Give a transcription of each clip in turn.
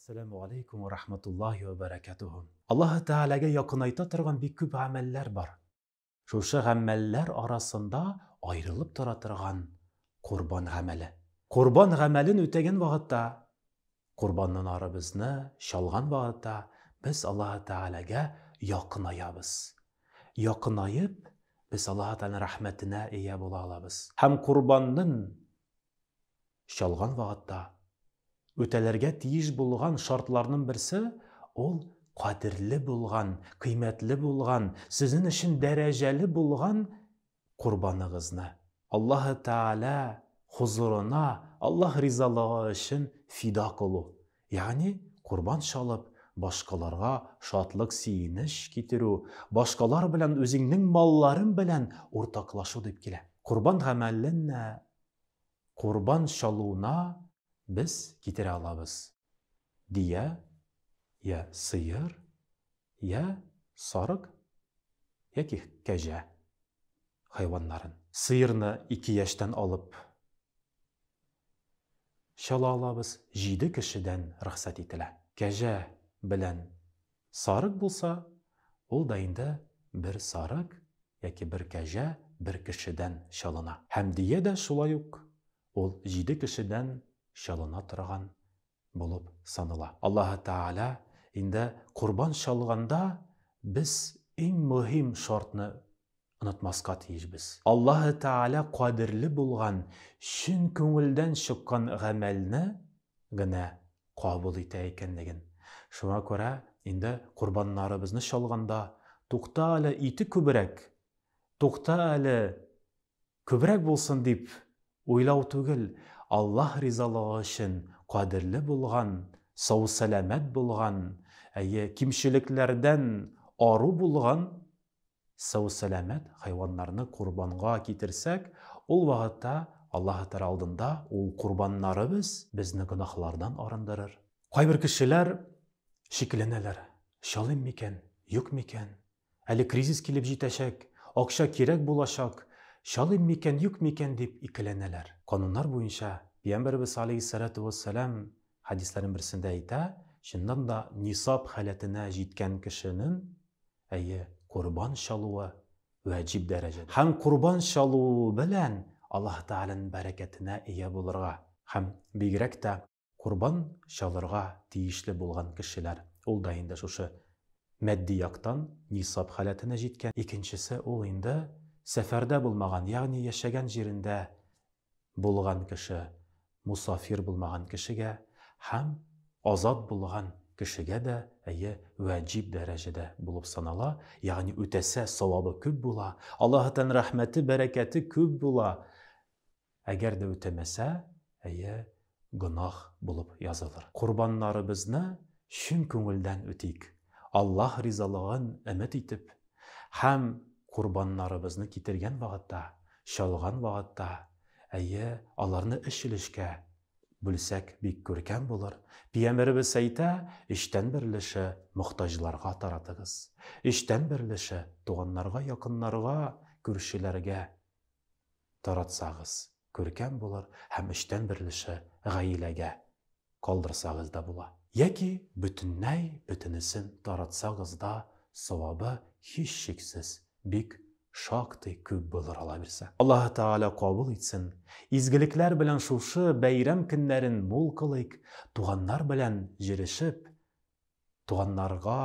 Әссәләмү галәйкүм вә рахматуллаһи вә бәрәкәтүһү. Аллаһы Тәгаләгә якынайта торган бик күп гамәлләр бар. Шушы гамәлләр арасында аерылып тора торган корбан гамәле. Корбан гамәлен үтәгән вакытта Корбаннан ары безне чалган вакытта без Аллаһы Тәгаләгә якынаябыз. Якынаеп, без Аллаһы Тәгаләнең рәхмәтенә ия була алабыз. Һәм корбаннын чалган вакытта үтәлергә тиеш булган шартларнын берсе, ул кадерле булган, кыйммәтле булган, сезнен өчен дәрәҗәле булган Корбаныгызны Аллаһы Тәгалә хозурына Аллаһ ризалыгы өчен фида кылу, ягъни корбан чалып, башкаларга шатлык-сөенеч китерү, башкалар белән үзеңнең малларың белән уртаклашу дип килә. Корбан гамәленә, корбан чалуына без китерә алабыз, дөя я сыер, Йә сарык, яки кәҗә хайваннарын. Сыерны ике яшьтән алып чала алабыз, җиде кешедән рөхсәт ителә. Кәҗә белән сарык булса, ул да инде бер сарык яки бер кәҗә бер кешедән чалына. Хәмдия дә шулай ук, ул җиде кешедән чалына торган булып санала. Аллаһы Тәгалә инде корбан чалганда без иң мөһим шартны онытмаска тиешбез. Аллаһы Тәгалә кадерле булган чын күңелдән чыккан гамәлне генә кабул итә икәнлеген. Шуңа күрә инде корбаннарыбызны чалганда, Тукта әле, ите күбрәк! Тукта әле, Күбрәк булсын дип уйлау түгел, Аллаһ ризалыгы өчен кадерле булган, сау-сәламәт булган, әйе, кимчелекләрдән ару булган сау-сәламәт хайваннарны корбанга китерсәк, ул вакытта Аллаһы Тәгалә алдында ул корбаннарыбыз безне гөнаһлардан арындырыр. Кайбер кешеләр шикләнәләр, чалыйм микән, юк микән? Әле кризис килеп җитәчәк, акча кирәк булачак, чалыйм микән, юк микән дип икеләнәләр. Кануннар буенча, Пиямбәребез алейһиссәлатү вәссәлам хәдисләренең берсендә әйтә, чыннан да нисаб халәтенә җиткән кешенен, әйе, корбан чалуы вәҗиб дәрәҗәдә. Һәм корбан чалуы белән Аллаһы Тәгаләнең бәрәкәтенә ия булырга һәм бигрәк тә Корбан чалырга тиешле булган кешеләр, ул да инде шушы матди яктан нисап халәтенә җиткән, икенчесе ул инде сәфәрдә булмаган, ягъни яшәгән җирендә булган кеше, мусафир булмаган кешегә һәм азат булган кешегә дә, әйе, ваҗиб дәрәҗәдә булып санала, ягъни үтәсә савабы күп була, Аллаһы Тәгаләнең рәхмәте, бәрәкәте күп була. Әгәр дә үтәмәсә, әйе, гөнаһ булып язылыр. Корбаннарыбызны чын күңелдән үтик, Аллаһ ризалыгын өмет итеп, һәм корбаннарыбызны китергән вакытта, чалган вакытта, әйе, аларны өч өлешкә бүлсәк, бик күркәм булыр. Пиямеребез әйтә, өчтән бер өлеше мохтаҗларга таратыгыз, өчтән бер өлеше туганнарга, якыннарга, күршеләргә таратсагыз, күркәм булыр һәм өчтән бер өлеше гаиләгә калдырсагыз да була. Яки бөтенләй бөтенесен таратсагыз да савабы, һичшиксез, бик шактый күп булыр алабирсә. Аллаһы Тәгалә кабул итсен, изгелекләр белән шушы бәйрәм көннәрен мул кылыйк, туганнар белән җырешеп, Туганнарга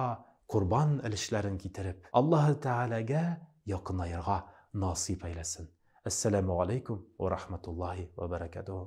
корбан өлешләрен китереп. Аллаһы Тәгаләгә якынаерга насыйп әйләсен. Әссәләмү галәйкүм вә рахматуллаһи вә бәрәкәтүһү.